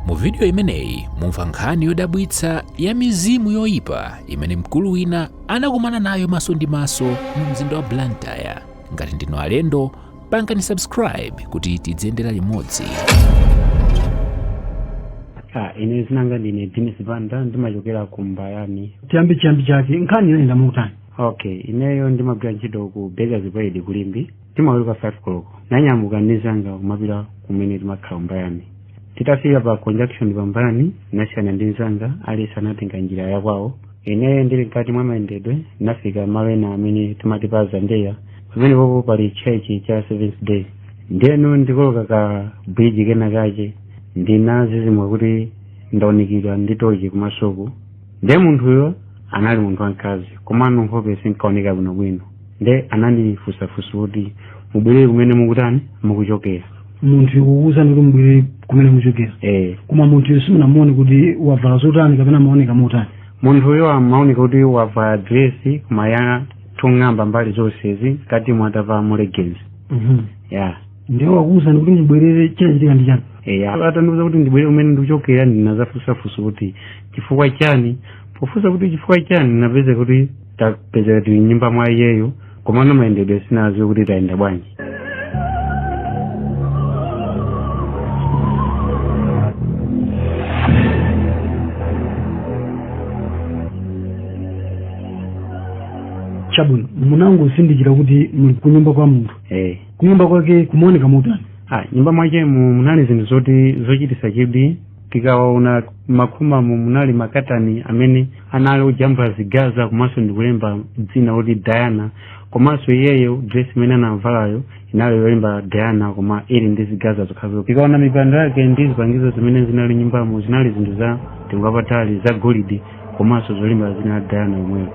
Mu vidiyo imeneyi mumva nkhani yodabwitsa ya mizimu yoyipa imene mkulu wina anakumana nayo maso ndi maso mu mzinda wa Blantyre. Ngati ndinu alendo, pangani subscribe kuti tidziyendera limodzi. Ah, ine dzina langa ndine Dennis Banda ndimachokera ku Mbayani. chiyambi chiyambi chake nkhani inayenda motani Okay, ineyo ndimagwira ntchito ku Bakers Pride ku Limbe. timaweruka 5 koloko nanyamuka ndinzanga kumapita kumene timakhala mbayani titafika pa conjunction pa mbayani nasiyana ndi nzanga aliyense anatenga njira ya kwawo ineyo ndili mkati mwa mayendedwe nafika malo ena amene timati pa zandeya pamene popo pali chechi cha seventh day ndiyeno ndikoloka ka bridge kena kache ndinazizimuka kuti ndaunikidwa ndi tochi kumasoko ndiye munthuyo anali munthu wamkazi komano nkhope sinkaoneka bwinobwino nde anandifunsa funso kuti mubwerere kumene mukuchokera mukuchokera. Munthu kukuwuzani kuti mubwerere kumene muchokera eh koma munthuyo simunamuone kuti wavala zotani kapena amaoneka motani munthuyo amaoneka kuti wavala diresi koma yoteng'amba mbali zonsezi mkati atavala ma leggings Mhm. ya ndiye wakuwuzani kuti mubwerere chinachitika ndi chani eya atandiuza kuti ndibwerere kumene ndikuchokera ndinazafunsa funso kuti chifukwa chani pofunsa kuti chifukwa chani ndinapeza kuti tapezeka tili mnyumba mwa iyeyo komano mayendedwe sinaziwe kuti tayenda bwanji chabwino munangozindikira kuti muli kunyumba kwa munthu eh kunyumba kwake kumaoneka motani ah mnyumba mwachemo munali zinthu zoti zochitisa chidwi tikaona makomamu munali makatani amene anali ojambula zigaza komanso ndikulemba dzina loti diana komanso iyeyo dress imene anavalayo inali yolemba diana koma ili ndi zigaza zokhazo tikaona mipando yake ndi zipangizo zimene zinali mnyumbamo zinali zinthu za mtengo wapatali za golide komanso zolemba dzina la diana yemweyo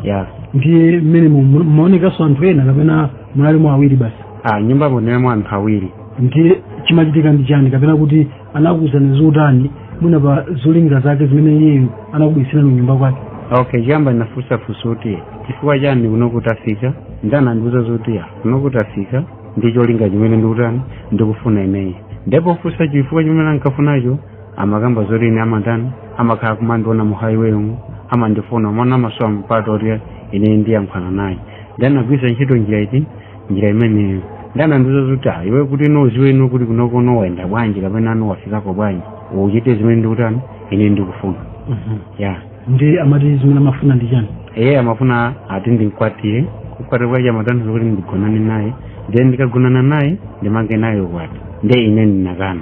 ya ndiye mmene mu- mu- mumaonekanso anthu ena kapena munalimo awiri basi a mnyumbamo munalimo anthu awiri ndiye chimachitika ndi chani kapena kuti anakuwuzani zotani mwina pa zolinga zake zimene iyeyo anakubweretserani kunyumba kwake okay chiyamba ndinafunsa funso kuti chifukwa chani kuno tafika nde anandiuza zoti ya kuno tafika ndi cholinga chimene ndikutani ndikufuna ineyo nde pofunsa chifukwa chimene ankafunacho amakamba zoti ine amatani amakhala kumandiona mu highway umu amandifuna mwana amasowa mpata oti ine ndiyankhulana naye ndi anagwiritsa ntchito njira iti njira imeneyo nde anandiuza zoti Ah, iwe kuti uziwe iwe kuti kunokono wayenda bwanji kapena wafikako bwanji uchite zimene ndikutani ine ndikufuna ya nde amati zimene amafuna ndi chani iye amafuna ati ndimkwatire kukwatira kwache amatanthauza kuti ndigonane naye then ndikagonana naye ndimange naye ukwati nde ine ndinakana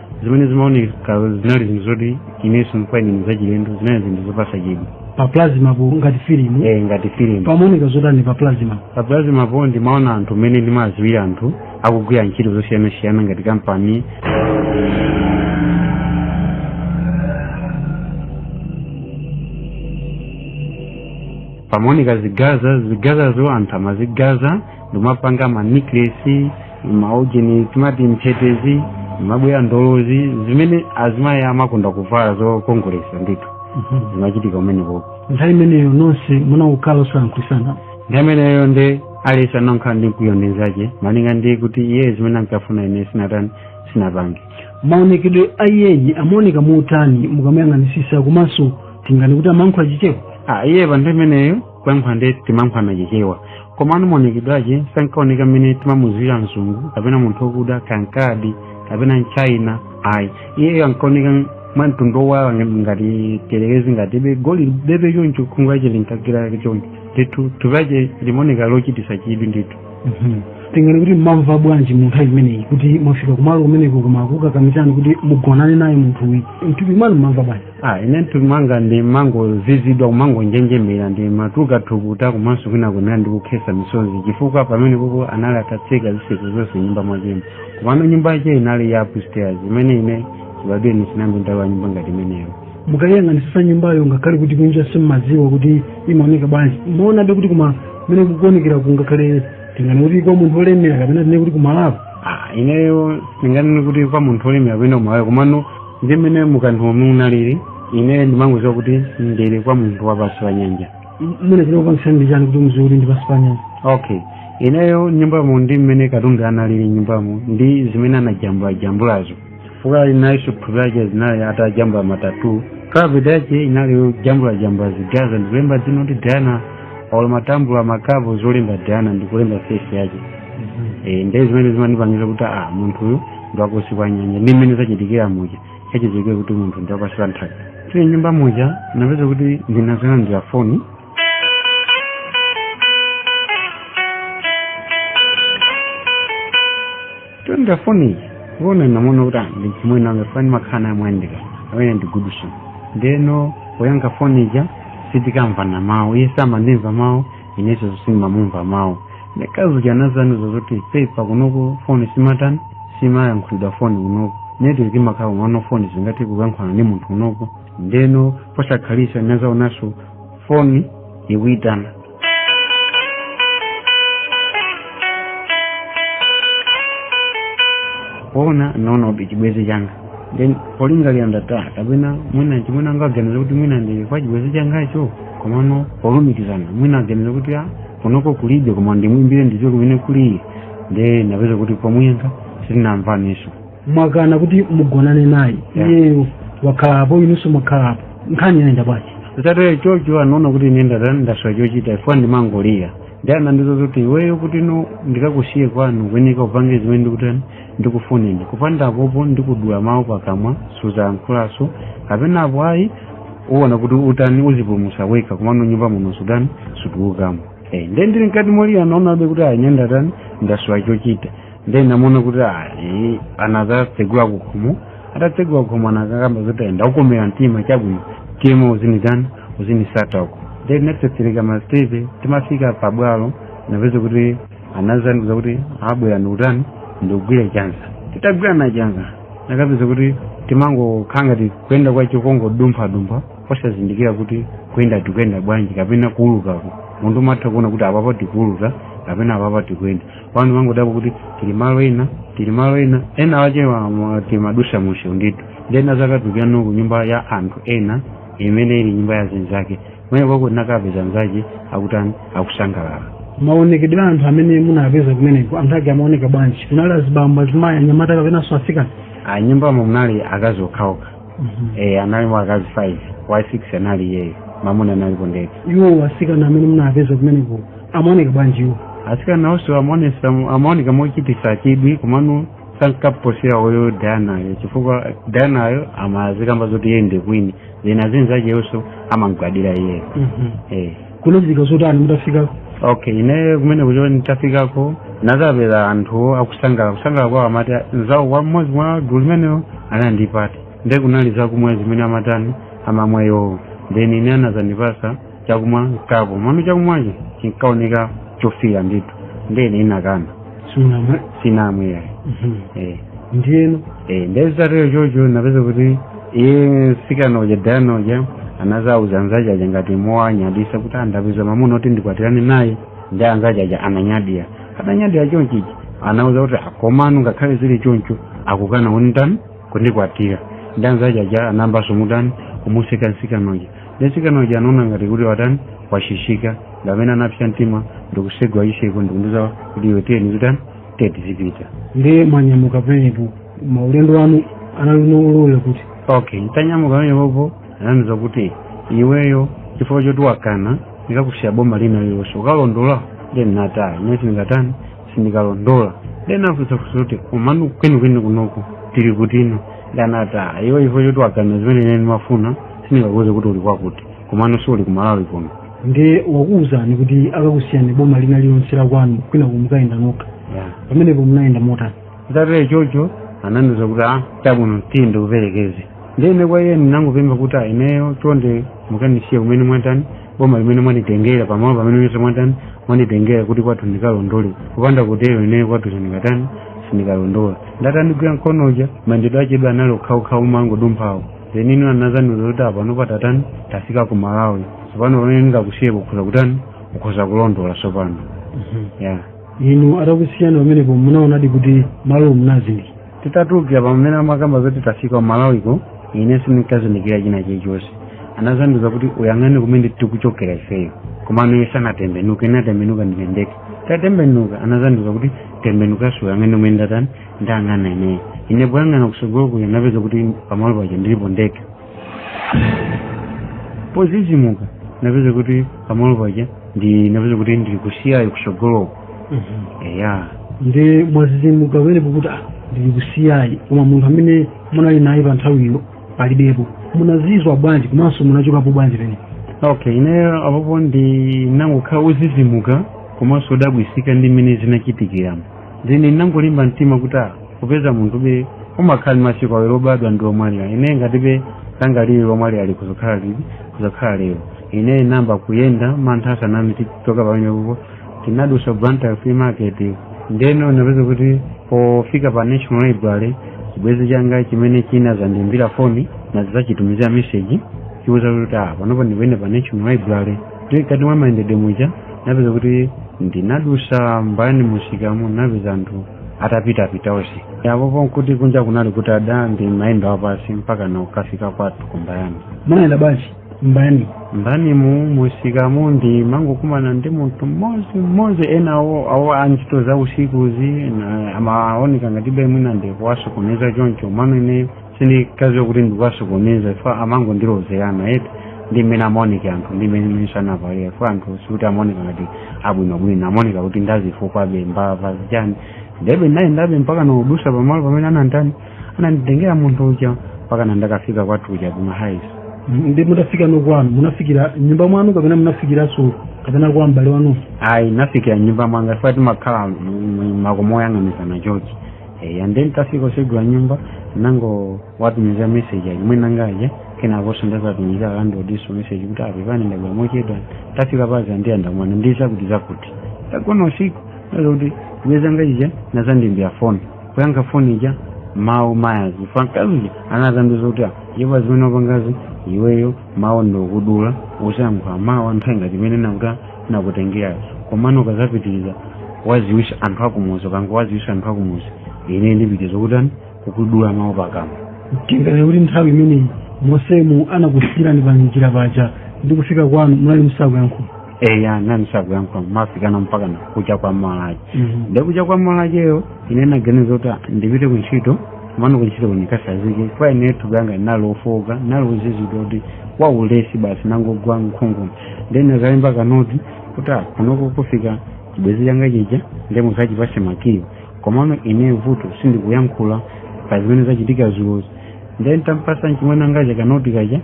zimene zimaoneka zinali zinthu zoti inenso kwa ine zinali zachilendo zinali zinthu zopasa chidwi pa plasma po ngati filimu eh ngati filimu pamaoneka zotani pa plasma pa plasma po ndimaona anthu mmene ndimadziwira anthu akugwira ntchito zosiyanasiyana ngati kampani pamaoneka zigaza zigazazo anthu amazigaza ndikumapanga ma necklace maujeni timati mphetezi mabweya ndolozi zimene azimayi amakonda kuvala zokongolesa ndithu zimachitika umenekoko nthawi imeneyo nonse munangokhala osalankhulitsana nthawi imeneyo nde aliyense anokhala ndi mkwiyo ndi nzache malinga ndi kuti iye zimene ankafuna ine sinatani sinapange maonekedwe a iyeyi amaoneka motani mukamuyang'anisisa komanso tinganene kuti amayankhula chichewa ah iye pa nthawi imeneyo kuyankhula nde timayankhulana chichewa komano maonekedwe ake sankaoneka mmene timamuziwira mzungu kapena munthu okuda kankadi kapena mchina ayi iyeyo ankaoneka mwa mtundu wa ngati telekezi ngati chidoli bebe choncho khungu lache linkagera choncho ndithu thupi lache limaoneka lochitisa chidwi ndithu tinganene kuti mmamva bwanji mu nthawi imeneyi kuti mwafika kumalo kumeneko koma akukakamizani kuti mugonane naye munthuyi mthupi mwanu mmamva bwanji Ah, ine mthupi mwanga ndimangozizidwa kumangonjenjemera ndimatuluka thukuta komanso kwina kunena ndi kukhesa misozi chifukwa pamene papo anali atatseka zitseko zonse mnyumba mwachemo komano nyumba yache inali ya upstairs imene ine chibadwire sinambe ndalowa nyumba ngati imeneyo mukayang'anisisa nyumbayo ngakhale kuti kunja simmadziwa kuti imaoneka bwanji mmaonabe kuti koma mmene kukuonekera kungakhale tinganene kuti kwa munthu olemera kapena tinene kuti kumalapo Ah, ineyo singanene kuti kwa munthu olemera kapena kumalapo komano ndi mmene mukatimo munalili ine ndimangoziwa kuti ndili kwa munthu wapansi pa nyanja mmene chinakupangisa ndi chani kuti muziwe kuti ndi pansi pa nyanja okay ineyo nyumbamo ndi mmene katundu analili mnyumbamo ndi zimene anajambulajambulazo chifukwa inanso sofa yache zinali atajambula ma tattoo kapeti yache inali yojambulajambula zigaza ndikulemba dzina kuti diana olo matambula makapu zolemba diana ndikulemba fesi yache Eh, ndiye zimene zimandipangisa kuti ah munthuyu ndi wa kunsi kwa nyanja ndi mmene zachitikira muja zachitikira kuti munthu ndi wapansi pa nthaka tili m'nyumba muja napeza kuti ndinazalandira foni nditalandira foni iyi kuona ndinaona kuti ah, ndi chimwene anga ifani makhala nawo moyandikana amene ndigudusa ndeno poyankha foni ija sitikamvana mawu iye samandimva mawu inenso sindimamumva mawu ndiye mkazi uja anazandiuza zoti pepa kunoko foni simatani siimayankhulidwa foni kunoko network imakhala komano foni singathe kuyankhulana ndi munthu kunoko ndeno posakhalitsa ndinazaonanso foni ikuitana kuona ndinaona kuti chibwenzi changa then polingalira ndinati kapena mwina chimwene anga aganiza kuti mwina ndili kwa chibwenzi changacho komano polumikizana mwina aganiza kuti a kunoko kulibe koma ndimwimbire ndidziwe kumene ali nde napeza kuti pomuyankha sitinamvanenso mwakana kuti mugonane naye Yeah. iyeyo wakhalapo inunso mwakhalapo nkhani yayenda bwanji zitatero chocho anaona kuti ine ndata ndasowa chochita chifukwa ndimangolira nde anandiuza kuti iweyo kuti no ndikakusiye kwanu kwenika upange zimene ndikutani ndikufuna ine kupanda apo ndikudula mawu pakamwa suzayankhulanso kapena apo ayi uona kuti utani uzipulumusa wekha komano nyumba muno sutani sutulukamo Eh, nde ndili mkati molira anaonabe kuti ayi ine ndatani ndasowa chochita nde ndinaona kuti ayi anazatsegula kukhomo atatsegula kukhomo anakakamba zoti ayi ndakukomera mtima chabwino tiye uzinitani uzinditsata uko nde tinatsetsereka masitepe titafika pabwalo napeza kuti anazandiuza kuti bwera ndikutani ndikugwire chanza titagwirana chanza nakapeza kuti timangokhala ngati kuyenda kwa chikongodumphadumpha osazindikira kuti kuyenda tikuyenda bwanji kapena kuulukako munthu umatha kuona kuti apapa tikuuluka kapena apapa tikuyenda koma timangodabwa kuti tili malo ena tili malo ena ena ache timadusa mumseu ndithu nde tinazakatulukirano ku nyumba ya anthu ena imene ili nyumba ya zinzake kumene kujako tinakapeza anzake akutani akusangalala maonekedwe a anthu amene munapeza kumeneko anthu ake amaoneka bwanji kunali azibambo azimayi anyamata kapenanso asikana a nyumbamo munali akazi okhaokha e, analimo akazi 5 wa 6 anali iyeyo mamuna ndinalipo ndekha iwo asikana amene munapeza kumeneko amaoneka bwanji iwo asikana onse amaonesa amaoneka mochititsa chidwi komano sankaposera uyo Dayanayo chifukwa Dayanayo amazikamba zoti iye ndi kwini then azinzachewonso amamgwadira iyeyo eh. kunachitika zotani mutafikako okay ine kumene kuja nditafikako nazapeza anthu akusangalala kusangalala kwawo amati nzawo mmodzi mwa gulu limenelo ali ndi pate nde kunali zakumwa zimene amatani amamwa iwowo then ine anazandipasa chakumwa kapu komano chakumwacho chinkaoneka chofira ndithu ndiye ine ndinakana simunamwe sinamwe yayi eh ndiyeno eh nde zitatero chocho ndinapeza kuti iye msikana uja dayana uja anazauza anzace aja ngati mowanyadisa kuti ah ndapeza mamuna woti ndikwatirane naye nde anzace aja ananyadira adanyadira chonchichi anawauza kuti ah komano ngakhale zili choncho akukana kunditani kundikwatira nde anzace aja anayambaso kumutani kumuseka msikana uja nde msikana uja anaona ngati kuti watani wachititsika ndi pamene anapsa mtima ndikusegula chitseko ndikundiuza kuti iwe tiye tizitani tiye tizipita ndiye mwanyamuka pamenepo maulendo anu anali olowera kuti okay titanyamuka pamenepopo anandiuza kuti iweyo chifukwa choti wakana ndikakusiya boma lina lilonse ukalondola nde ndinati ayi ine sindingatani sindikalondola ndinafunsa funso kuti komano kwenikweni kunoko tili kuti nde anati iwe chifukwa choti wakana zimene ine ndimafuna sindingakuuze kuti uli kwakuti komano siuli ku malawi kuno nde wakuwuzani kuti akakusiyani boma lina lilonse la kwanu kwinako mukayenda nokha Yeah. pamenepo munayenda motani zitatero chocho anandiuza kuti a chabwino tiye ndikuperekeze ndiye ine kwa iye ndinangopempha kuti a ineyo chonde mukandisiye kumene mwatani boma limene mwanditengera pamalo pamene ponse mwatani mwanditengera kuti kwathu ndikalondole kupanda kutero ineyo kwathu sindikatani sindikalondola nde atandigwira mkono uja mayendedwe ache anali okhaokhawo omangodumphawo ndeno anazandiuza kuti apa pano tatani tafika ku malawi sopano pamene ndingakusiye ukhoza kutani ukhoza kulondola sopano ya inu atakusiyani pamenepo munaonadi kuti malo munazindikira titatulukira pamene amakamba zoti tafika kumalawiko ine sindinkazindikira china chilichonse anazandiuza kuti uyang'ane kumene tikuchokera ifeyo komano iye sanatembenuke ine ndinatembenuka ndiye nditatembenuka anazandiuza kuti tembenukanso uyang'ane kumene ndatani ndayang'ana ineyo ine poyang'ana kusogolo kuja ndinapeza kuti pamalo paja ndilipo ndekha pozizimuka napeza kuti pamalo paja ndi napeza kuti ndili ku CI kusogoloko eya nde mwazizimuka pamenepo kuti ah, ndili ku CI koma munthu amene munali naye pa nthawiyo palibepo munazimva bwanji komanso munachokapo bwanji pene okay ineyo apapo ndinangokhala wozizimuka komanso wodabwisika ndi mmene zinachitikiramo nde ndinangolimba mtima kuti ah, popeza munthube umakhala ndi masiku awiri obadwa ndi omwalira ine ngatibe langa lili lomwalira likuzakhala lili kuzakhala lero ine ndinayamba kuyenda mantha atandigwira nditachoka pamenepopo ndinadusa blantyre flea market ndeno napeza kuti pofika pa national library chibwezi changa chimene chinazandiimbira foni ndinazachitumizira meseji kuchiuza kuti ah panopo ndili pena pa national library ti kati mwa mayendedwe muja napeza kuti ndinadusa mbayani musikamo napeza anthu atapitapita onse apopo nkuti kunja kunali kutada ndimayenda wapasi mpaka nakukafika kwathu kumbayani munayenda bwanji mbayani mbani mu musikamo ndimangokumana ndi munthu mmodzi mmodzi ena awo a ntchito za usikuzi na- amaoneka ngatibe mwina ndikuwasokoneza choncho mano ine sindikaziwa kuti ndikuwasokoneza chifukwa amangondilozerana eti ndi mmene amaoneka anthu ndi mmene mmene sanavalira chifukwa anthu sikuti amaoneka ngati abwinobwino amaoneka kuti ndazifukwabe mbava zijani ndebe nayendabe mpaka nodutsa pamalo pamene anandani ananditengera munthu uja mpaka nandakafika kwathu uja kumahaiso nde mutafika kwanu munafikira mnyumba mwanu kapena munafikiranso kapena kwa m'bale wanunso ayi nafikira mnyumba mwanga chifukwa timakhala makomo oyang'anizana chochi eya nde ntafika osegula nyumba nangowatumiza message achimwene angaja kenakonso ndawatumiza a landlord message kuti apepane ndabwera mochedwa tafika paza ndiya ndamwana ndisa kuti zakuti tagona usiku aza kuti chibwenzi changa chija anazandimbira foni kuyankha foni ija mawu mawu aja a mkazi anazandiuza kuti iwe zimene wapangazi iweyo mawu ndakudula usayankhula mawu anthu aingati imene nakuti nakutengera komano ukazapitiriza waziwitsa anthu akumuzi ukangowaziwitsa anthu akumuzi ine ndipitiriza kutani kukudula mawu pakamwa tinganene kuti nthawi imeneyi monsemu anakusiyirani pa njira paja ndi kufika kwanu munali musakuyankhula eya nanali sakuyankhula mafikana mpaka na kucha kwa malaje Mhm. nde kucha kwa malajeyo ine naganiza kuti ndipite ku ntchito mano ku ntchito kunikasazike kwa ine thupi langa nalofoka nalozizidwa kuti waulesi basi nangogwa nkhungu nde nazalemba kanoti kuti ah, kunoko kufika chibwezi changa chija ndiye muzachipase makiwo komano ine vuto sindikuyankhula pa zimene zachitika zulozi ndiye ntampasa nchimwene angaja kanoti kaja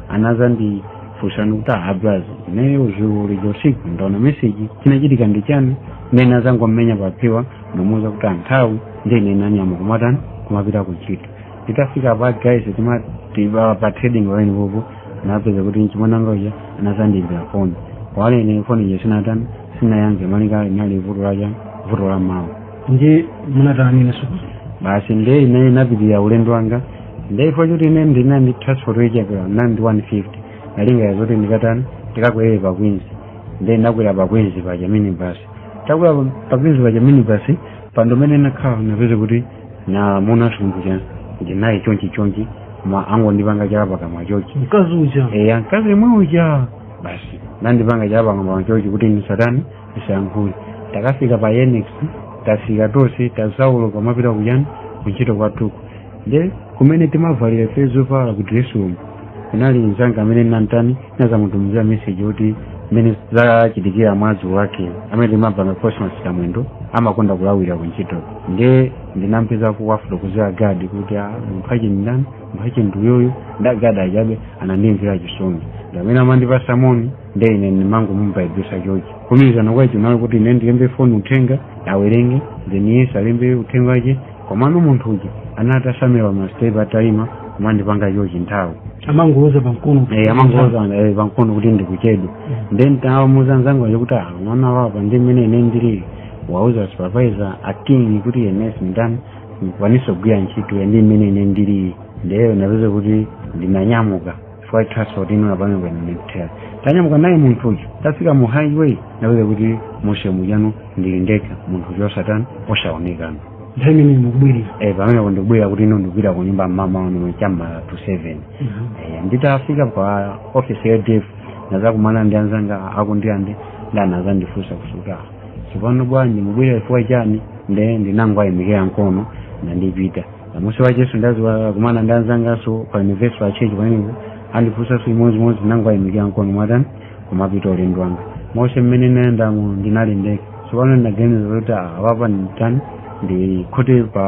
anazandifunsa kuti ah braz ineyo zulo lija usiku ndaona meseji chinachitika ndi chani ndiye nazangomenya paphewa ndamuuza kuti anthawi ndiye ine nanyamuka kumatani kumapita kuntchito nditafika pa guys timati pa trading line popo napeza kuti mchimwene wanga uja anazandimbira foni kale ine foni ija sinatani sinayankhe malinga ndinali ndi vuto laja vuto la mawu nde munatani ine sukulu basi nde ine napitiriza ulendo wanga nde chifukwa choti ine ndinali ndi transport yochepera nali ndi 150 nalinga yazoti ndikatani ndikakwere pa kwinzi nde ndakwera pa kwinzi paja minibasi takwera pa kwinzi paja minibasi mpando umene nakhala napeza kuti namuona asungwana uja ndinaye chonchi chonchi maangondipanga chala pakamwa chochi mkazi uja eya mkazi imwe uja basi nandipanga chala pakamwa chochi kuti nisatani nisayankhule takafika pa yenex tafika tonse tatsika kumapita kujani kuntchito kwathuku nde kumene timavalira ife zovala ku dress room kunali mzanga amene nantani ndinazamutumizira message yoti mmene zachitikira mmawa wake amene timapanga cosmas kamwendo amakonda kulawira kuntchito nde ndinampeza kuwafotokozera gadi kuti "Ah, munthu ache ndani munthu ache ndi uyo nde agadi aja be anandimvera chisoni ndamene amandipasa moni nde ine ndimangomubayibitsa chochi kumutsanzika kochonga kuti ine ndilembe foni uthenga awerenge then iyeso alembe uthenga wache komano munthu uja anatsamira masitepe ataima kumandipanga chochi nthawi amangoloza pamkono Eh, amangoloza eh, pamkono kuti ndikuchedwa nde nditamuuza nzanga aja kuti "Ah, mwana apapa ndi mmene ine ndili wauze a supervisor aking kuti ine sinditani sindikwanisa kugwira ntchito ya ndi mmene ine ndili ndeno napezeka kuti ndinanyamuka chifukwa cha transport ino sinapange bwino ndi kuthera tanyamuka naye munthu uyu tafika mu highway ndapezeka kuti muja mujano ndili ndekha munthu uyu osatani osaonekana nthawi imene mukubwerera? Eh, pamene ndikubwerera kuti? Ino ndikupita ku nyumba mamawano cha m'ma to seven Eh, nditafika pa office ya NEEF ndinazakumana ndi anzanga aku Ndirande nde anazandifunsa kuti "Ka tsopano bwanji mukubwera chifukwa chani" nde ndinangwayimikira mkono nandipita kumusi kwacheso ndazakumana ndi anzangaso pa Universal Church pamenepo andifunsaso chimodzimodzi ndinangowayimikira mkono n'kutani kumapita ulendo wanga onse mmene ndinayendamo ndinali ndekha tsopano ndinaganiza kuti apapa nditani ndikhote pa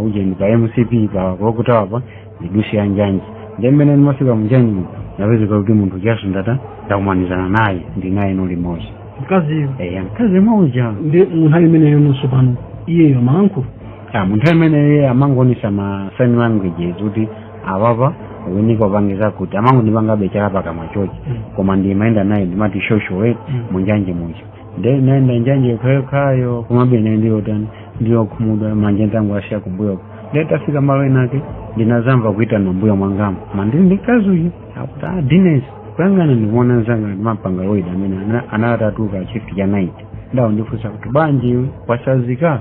ujeni pa mcp pa Clock Tower pa ndidutse ya njanji nde mmene ndimafika munjanji napezeka kuti munthu ujaso ndata ndakumanizana naye ndinayeno limodzi mkaziyo eya mkazi uja ndi munthawi imeneyo nonso pano iyeyo amalankhula Ah, munthawi imeneyo amangoonetsa ma sign languages kuti apapa wayenika upangize kuti amangondipanga be chala pakamwa chochi koma ndimayenda naye ndimayenda choncho munjanje muja nde ndaenda njanje yokhayokhayo komabe naye ndiyotani ndiyokhumudwa mwanjanji tangousiya kumbuyoko nde tafika malo enake ndinazamva kuitana mbuyo mwangamo ndili ndi mkazi uyu akuti a Denis kuyang'ana ndikuona nzanga ndimapanga nawo duty amene ana- anatuluka shift ya night nde wandifunsa kuti bwanji iwe wasanzika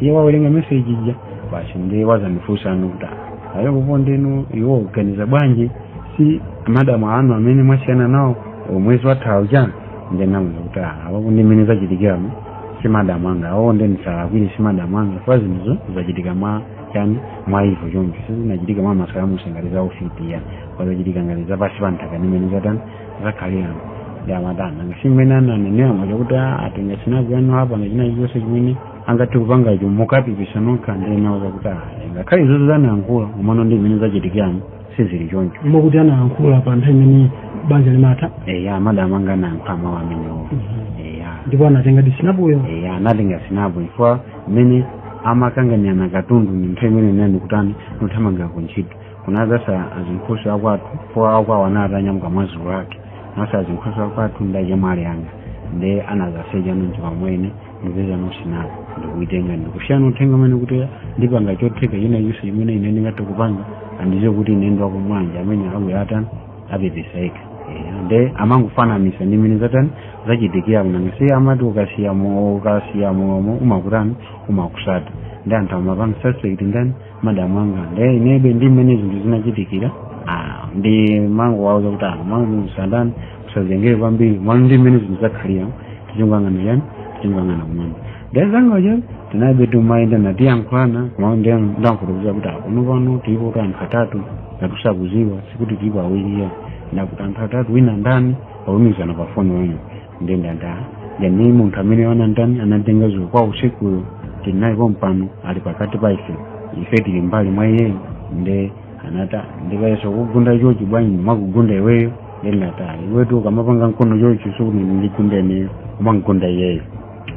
iye wawerenga meseji ija basi ndiye wazandifunsa ndithu kuti iwo koma inu mukuganiza bwanji si madamu anu amene mwasiyana nawo mwezi wathawu chani nde ndamuuza kuti apo ndi mmene zachitikiramo si madamu anga awo nde ndisawalakwire si madamu anga kwa zinthuzo zachitika mwa chani mwa evil choncho sizinachitika mwa masalamusi, ngati za ufiti ya koma zachitika ngati zapasi pa nthaka ndi mmene zatani zakhaliramo nde amatani ngati mmene ananenera mwachakuti atenga si naku yanu apa ngati china chilichonse chimene angathe kupanga icho mukapepesa nokha ndinawauza kuti ayi ngakhale izozo zanayankhula komano ndi mmene zachitikiramo sizili choncho mokuti anayankhula pa nthawi imene banja limatha eya madamu anga anayankhula mawu amenewo eya ndipo anatenga disinapoyo eya anatenga sinapo chifukwa mmene amakanganirana katundu ndi nthawi imene inayi kutani nothamangira ku ntchito kunadzatsala azinkhoswe akwathupo akwawo anatanyamuka mwadzulo lake nkutsala azinkhoswe akwathu ndachemwali anga nde anazaseja nonji pamwene ndipezano sinapo ndikuitenga ndikusiya uthenga umene kuti ndipanga chotheka china chilichonse chimene ine ndingathe kupanga mpaka kuti ine ndi wako mwanja amene awa atani apepesa yekha Eh, nde amangofananisa ndi mene zatani zachitikira kuti nanga si amati ukasiya mawu ukasiya mawu amakutani amakutsata nde anthu amapanga suspect ndani madamu anga nde inebe ndi mmene zinthu zinachitikira ah, ndimangowauza kuti ano mango musatani musazengereze kwambiri mano ndi mmene zinthu zakhalira tizingoyang'ana chani tizingoyang'ana kumwamba nde nzanga uja tinabe tumayenda natiyankhulana kumao ndi ndangokuuza kuti kuno pano tilipo kuti anthu atatu ngati sukudziwa sikuti tilipo awiri ayi ndati anthu atatu wina ndani waumizana pa foni wanu nde ndinati yani munthu amene anatani anatenga dzulo kwa usikuyo tili naye pompano ali pakati pa ife ife tili mbali mwa iyeyo nde anata ndikayesa kugunda chochi bwanji ndikugunda iweyo ndinata iwetu ukamapanga mkono chochi sikuti ukugunda ineyo umagunda iyeyo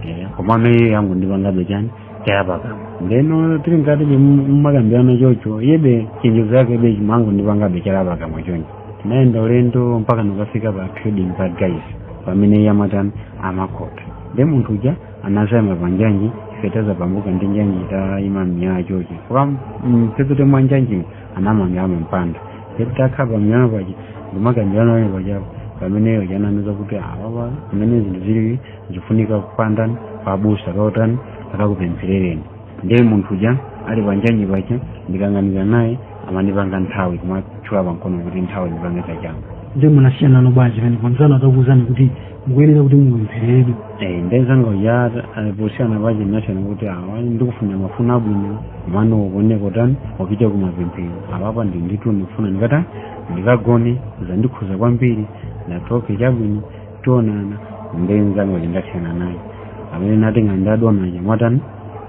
Eh, komano iye akungondipangabe chani chala pakamwa ndeno tili ngati tumakambirana chocho yebe chithunzi chake be chimangondipangabe chala pakamwa choncho tinayenda ulendo mpaka ndikafika pa trading pa guys pamene iye amatani amakhota nde munthu uja anazaima pa njanji ife tazapatuka ndi njanji tayima mmiyala chochi kwa mphepete mwa njanjimo anamanga amampanda ndekuti akhala pa mwala paja nkumakambirana wene pajapo pamene uja anandiuza kuti apapa mmene zinthu zili zikufunika kupatani abusa akakutani akakupempherereni ndiye munthu uja ali panjanji paja ndikayang'anizana naye amandipanga nthawi kumachula pankono kuti nthawi ndipange zachanga nde munasiyanano bwanji pene anzanu atakuwuzani kuti mukuyenera kuti mupemphereredwe Eh, nde nzanga uja posiyana paja tinasiyana kuti awa ndikufunira mafuno abwino komano ukuoneka utani upite kumapemphero apapa ndi nditu ndikufuna ndikatani ndikagone zandikhuza kwambiri ndati ok chabwino tionana nde nzanga uja ndasiyana naye amene natenga nda dona uja mwatani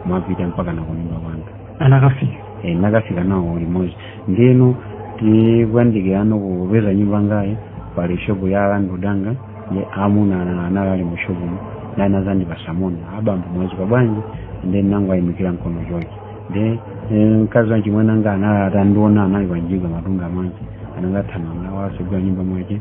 mwapita mpaka nakunyumba kwanga anakafika e, nakafika nawo limodzi ndeno tikuyandikirano kupeza nyumba yangayi pali shopu ya a landlord anga ye amuna ana- anali ali mu shopumo ndi anazandipatsa moni abambo mwaswera bwanji nde nangowayimikira mkono chochi nde eh, mkazi wa achimwene anga atandiona anali pa mjigo matunga madzi anangothamanga wasegula nyumba mwache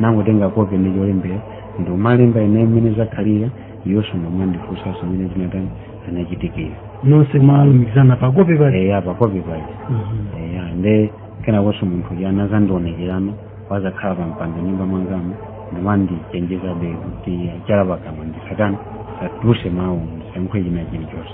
nangotenga kope ndi cholembera ndikumalemba ine mmene zakhalira iwonso ndikumandifunsanso mmene zinatani zinachitikira nonse mwalumikizana pa kope pali eya pakope pali eya nde kenakonso munthu uja anazandionekerano wazakhala pa mpando nyumba mwangamo ndimandichenjezabe kuti chala pakamwa ndisatani satuluse mawu ndisankhe china chilichonse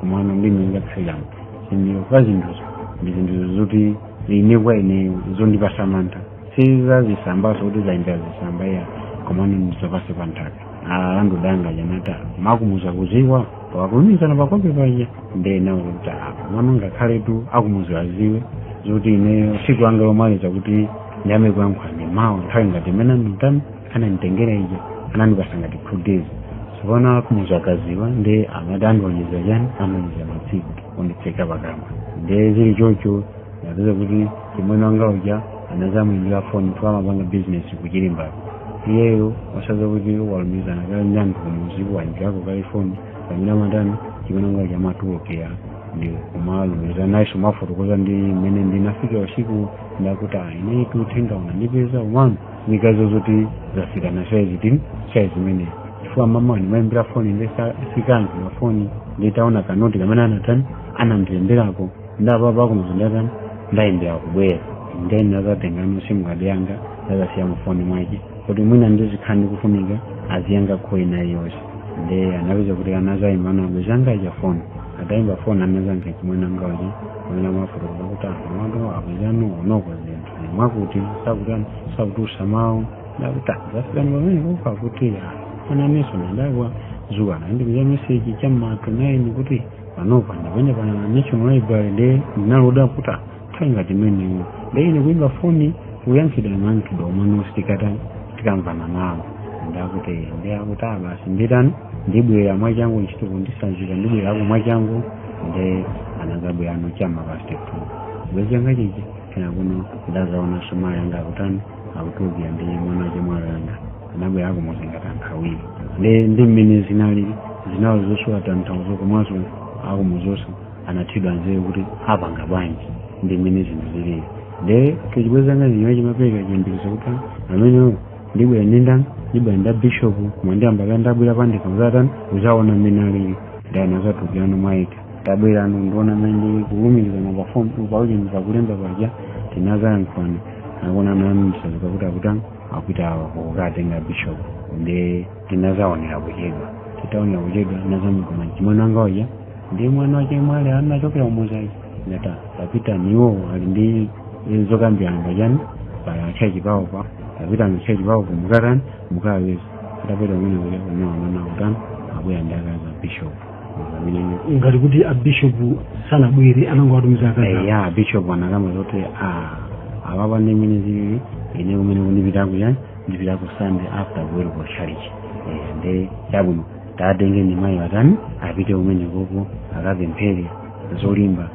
komano ndi mmene zakhaliramo chindiro kwa zinthuzo ndi zinthuzo zoti ine kwa ineyo zondipasa mantha si zazisambanso kuti zayendera zisamba iya komano ndi zapansi pa nthaka a landlord anga aja anati akumuzi akuziwa pakulumikizana pakope paja nde nawo kuti komano ngakhaletu akumuzi aziwe zoti ineyo siku langa lomaliza kuti ndiyambe kuyankhula ndi mawa nthawi ngati imene anditani ananditengera ija anandipasa ngati two days tsopano akumuzi akaziwa nde amati andiwonjezera chani andiwonjezera matsiku onditseka pakamwa nde zili chocho napeza kuti chimwene wanga uja anazamuimbira foni kuti amapanga bizinesi kuchilimbapo iyeyo osaziwa kuti walumikizana kale ndi anthu kumuziku waimbirako kale foni pamene amatani chimwene wanga uja amatulukira ndi kumalumikizana nayenso amafotokoza ndi mmene ndinafika usiku nde akuti ayi ine uthenga unandipeza komano nikazo zoti zafika pa saizi tini saizi imeneyo chifukwa mama ndimayimbira foni ndesikanzi mafoni nditaona kanoti kamene anatani anandilemberako nde apapa kumuzi ndatani ndayimbira kubwera nde ine nazatengano simukadi yanga ndazasiya mufoni mwake kuti mwina ndizikhala ndikufunika aziyankha call ina yonse nde anapeza kuti anazayimba namba yanga ija foni atayimba foni anazayankha achimwene anga aja amene amafotokoza kuti anthu mwandu akuzano kunoko zinthu mwakuti sakutani sakutulusa mawu nde akuti zafikani pamene kufa kuti ananenso nandagwa zuwa anandipeza meseji cha mma to naini kuti panopa ndili pano pa national library nde ndinaloda kuti nthawi ngati imeneyo nde ine kuimba foni kuyankhidwa mayankhidwe omwe usitikatani tikamvana nawo ndakuti nde akuti "Ah, basi nditani ndibwera mwachangu ntchitoku ndisanzika ndibwerako mwachangu nde anazabwerano chamma past two chibwenzi changa chichi kenakono ndazaonanso mayi anga akutani akutulukira ndi mwana wa chemwali anga anabwera akumuzi ngati anthu awiri ndi ndi mmene zinali zinali zosowa tanthauzo komanso akumuziwonso anathedwa nzeru kuti apanga bwanji ndi mmene zinthu zilili nde chibwenzi changa zinywa chimapereka chiyembekezo kuti amenewo ndibwera ndi ndani ndibwera ndi a bishopu koma ndiyamba kaye ndabwera pandekha kuzatani kuzaona mmene alili nde anazatulukirano mwaika tabwera ano ndiona mmene kulumikizana pa phone tu paucheni pakulemba paja tinazayankhulana akuona mamsazi pakuti akutani akupita kukatenga bishop nde tinazaonera kuchedwa titaonera kuchedwa nazamugoma chimwana anga waja ndi mwana wache mwale anachokera umuzaji ndata tapita niwo ali ndi zokambirana pachani pachechi pawo pa tapita mchechi pawo kumukatani mukawapeza tapita kumene kuja unaonana kutani akuya ndi akazi a bishop ngati kuti abishopu sanabwere anangowatumiza akazi awo. eya bishop anakamba zoti "Ah, apapa ndi mmene zilili ine kumene kundipita kuya ndipitako sunday after kuweruka chalichi nde chabwino tatenge ndi mayiwa atani apite kumene koko akapemphere zolimba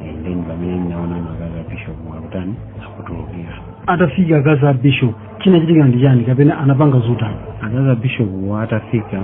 Eh, then pamene ndinaona akazi a bishop akutani akutulukira atafika akazi a bishop chinachitika ndi chani kapena anapanga zotani akazi a bishop atafika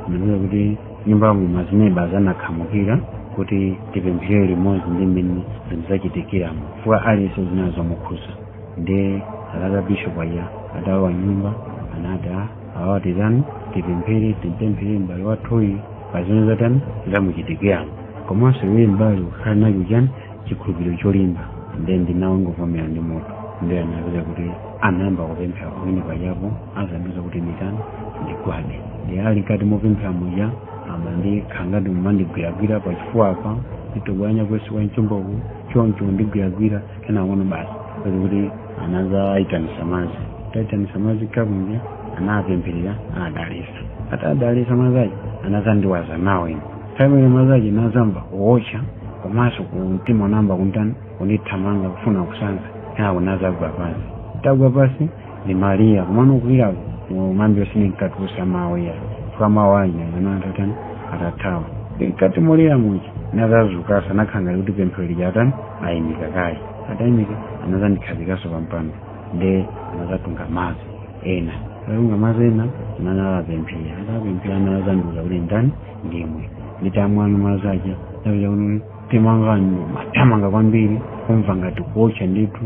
ndikuza kuti nyumbamo mazineba anakhamukira kuti tipemphere limodzi ndi mmene zinthu zachitikiramo chifukwa aliyense zinazamukhuza nde akazi a bishop aja atalowa nyumba anati "Ah, awa titani tipemphere timpemphere m'bale wathuyi pa zimene zatani zamuchitikiramo komanso iwe m'bale ukhale nacho chani chikhulupiriro cholimba nde ndinangovomera ndi mutu nde anapeza kuti anayamba kupemphera pamene pajapo anazandiuza kuti nditani ndigwade nde ali mkati mopemphera muja amandikhala ngati mumandigwiragwira pa chifuwa apa nditobwanya kunsi kwa mchomboku choncho ndigwiragwira kenakono basi kuti kuti anazaitanisa madzi ataitanisa madzi kakunja anapempherera adalisa atadalisa madzi aja anazandiwaza nawo ine nthawi imene madzi aja nazamba kuotcha komanso ku mtima unayamba kuntani kunithamanga kufuna kusanza kenako nazagwa pansi tagwa pansi ndimalira komano kulirako mambi osine nkatusa mawu ya chifukwa mawu aja amene anthu atani atathawa mkati molira muja nazazukasa nakhala ngati kuti pemphero lija atani ayimika kaye atayimika anazandikhazikaso pampando nde anazatunga madzi ena atunga madzi ena anazapemphera atapemphera anazandiuza kuti nditani ndimwe nditamwano madzi aja napeza kuti mtima wanga umathamanga kwambiri kumva ngati kuotcha ndithu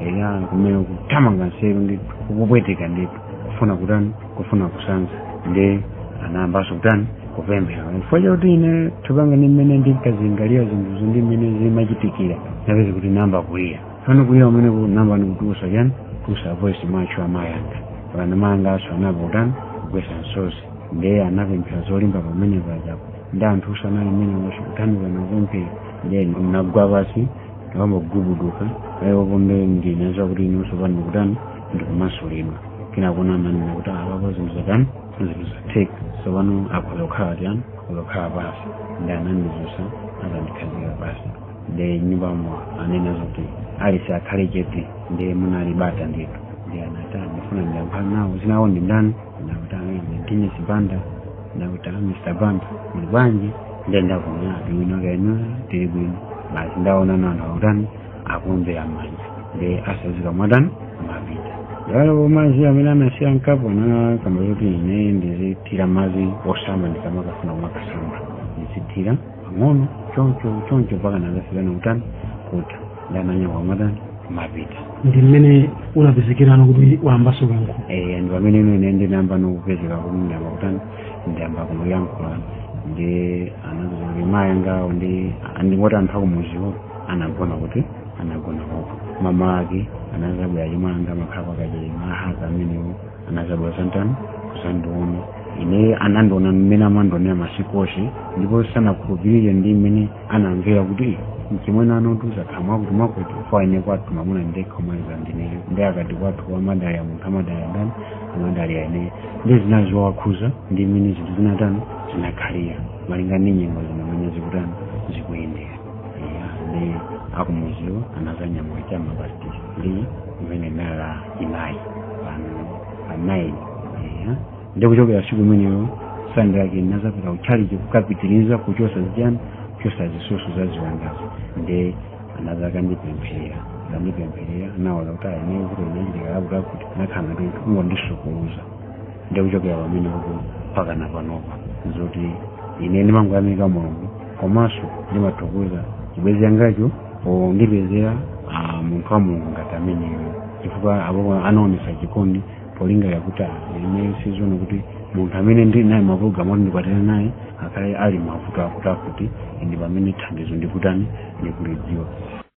eya kumene kuthamanga nseru ndithu kupweteka ndithu kufuna kutani kufuna kusanza nde anayambanso kutani kupemphera chifukwa chakuti ine thupi langa ndi mmene ndinkazilingalira zinthuzo ndi mmene zimachitikira napeza kuti namba kulira fana kulira umene ku- namba ndikutusa chani kutusa voice macho amayanga mpakana amayanganso anayamba kutani kugwesa nsozi ndiye anapemphera zolimba pamene pajapo nde anthu usanali mmene wachikuthandiza nakupemphera ndiye nagwa pasi ndikumagubuduka ayiwo pompo ndinaziwa kuti inenso pano ndikutani ndikumasulidwa kenako ananena kuti apapo zinthu zatani zinthu zatheka sopano akhoza kukhala chiyani akhoza kukhala pasi nde anandizusa nkundikhazika pasi nde mnyumbamo anena zoti aliyese akhale chete nde munali bata ndithu nde anati ndifuna ndiyankhule nawo dzina lawo ndi ndani nde akuti a Dennis Banda nde akuti a Mr Banda muli bwanji nde ndakuona bwino kaya inu tili bwino basi ndaona anthu akutani akuombera mmanja nde atsazika kumatani kumapita koma mazi amene anasiya mkapu anakamba kuti ine ndizithira mazi osamba ndikamakafuna kumakasamba ndizithira pang'ono choncho choncho mpaka anakafika pakutani kutha nde ananyamuka kumatani kumapita ndi mmene unapezekera kuti wayambanso kuyankhula Eh, ndi pamene ino ine ndinayamba nokupezeka kuti ndiyamba kutani ndiyamba kuyankhula ndi anazati mayi angawo nde ndingoti anthu akumuziwo anagona kuti anagona koko mama ake anazabwera achemwa anga amakhala kwa Kachere mahaka amenewo anazabwera kuzatani kuzandiona ine anandiona mmene amandionera masiku ose ndipo sanakhulupirire ndi mmene anamvera kuti mchimwene anatula nkhawa kuti mwakuti paja ine kwathu mamuna ndekha mwamva ndineyo ndi akati kwathu amadalira munthu amadalira ndani amadalira ineyo nde zinazawakhuza ndi mmene zinthu zinatani zinakhalira malinga ndi nyengo zino mmene zikutani zikuyendera Eya, ndi akumuziwa anazanyamuka chama past six ndi imene nala inayi pa 9 eya nde kuchokera tsiku limenelo sande yake ndinazapita kutchalichi kukapitiriza kuchosa zichani kuchosa zisoso za ziwandazo nde anazakandipempherera kandipempherera naona kuti ayeneye kuti inachitika lakuti akuti nakhala kuti kungondisukuluza nde kuchokera pamenepo mpakana panopa zoti ine ndimangoyamika mulungu komanso ndimathokoza chibwenzi changacho pondipezera ah, munthu wa mulungu ngati ameneyo chifukwa apo anaonesa chikondi polingalira kuti ah, ine sindizaona kuti munthu amene ndili naye mapulogalamu oti ndikwatira naye akhale ali mavuto akuti akuti ndi pamene thandizo ndikutani ndikulidziwa